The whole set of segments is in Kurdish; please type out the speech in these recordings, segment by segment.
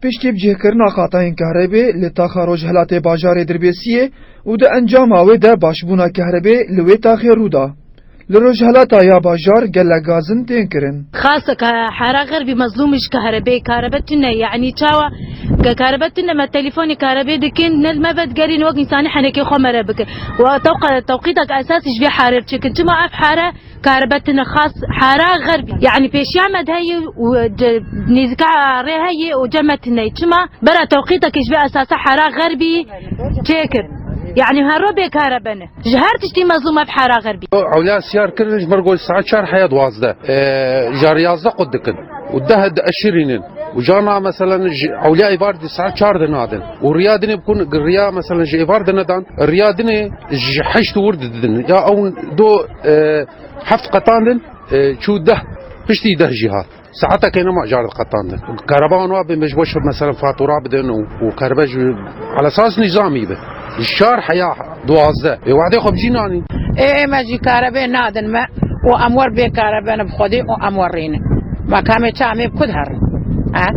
Piştî bicihkirina qatayên kehrebê li taxa Rojhilatê bajarê Dirbêsiyê û di encama wê de başbûna kehrebê li wê taxê rû da. Li Rojhilata ya bajar gelek gazin tên kirin. Xase ke hera xerbî mezlûmî ji karebeyê karebe tune yanî çawa ke karebe tune me telîfonê karebê dikin ne li me vedigerîne wek însanî henekê xwe me re bikin û tewqe tewqîtek esasî ji vê here biçêkin çima ev here karebe tune xas hera xerbî yanî pêşiya me de heye û nêzîka rê heye û ceme tune çima bera tewqîtekê ji vê esasa hera xerbî çêkir yanî hero bê karebene. Ji her tiştî mezlûm ev hera xerbî. Ewlea siyar kirin ji ber ku saet çar heya duwazdeh jar yazdeh qut dikin û deh dieşirînin û car niha meselen ji ewlea êvar dî saet çar de nadin û riya dinê bikun riya meselen ji êvar de nedan riya dinê ji heşt û wir de didin ya ew do heft qetan din çû deh piştî deh jî hat. Saetekê ne ma cared qetandin. Kereba wan wabe me ji bo mesela fatura bidin û û kereba ji ala esas nîzamî be. Ji çar heya duwazdeh vê wexdê xwe bijî nanîn. Ê ême jî karebê nadin me û em wer bê karebe ne bi xwedê û em wer rînin. Ma kamê çi em ê bi ku diherin? He?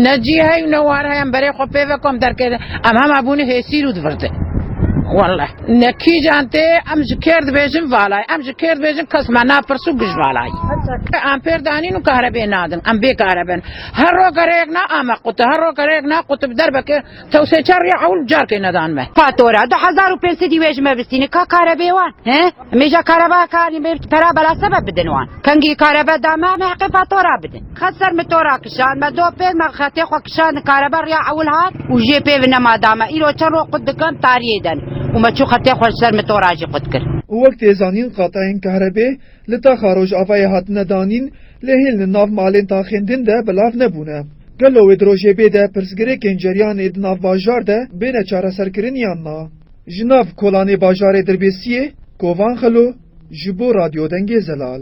Ne cî hey û ne war hey em berê xwe pê ve ku em derkê de em hema bûne hêsîr û divirdin. Welleh. Ne kîjan tê em ji kêr dibêjin valayî. Em ji kêr dibêjin kes me napirsu giş valayî. Ampêr danîn û kahrebê nadin. Em bê kahrebe in. Her roj gereyek na ame qutib. Her roj gereyek na qutib derbeke tewsê çar rîya ewil carkê nedan me. Fatura du hezar û pênc sedî wê ji me vistîne ka kahrebê wan. Hê? Em ê ja kahrebaya karîn bê pera bela sebeb bidin wan. Kengî kahrebe da me em ê heqê fatura bidin. Xet ser min to ra kişand, me do pêl me xetê xwe kişand karebe riya ewil hat û jê pê vine ma da me îro çend roj qut dikim tariyê den û me çû xetê xwe ji ser min to ra jî qut kir. Û wek tê zanîn qateyên kahrebê li taxa rojavayê hatine danîn lê hêl li nav malên taxên din de belav nebûne. Gelo wê di rojê bê de pirsgirêkên ceriyanê di nav bajar de bêne çareserkirin yan na? Ji nav kolanê bajarê Dirbêsiyê, Kovan Xelo, ji bo Radyo Dengê Zelal.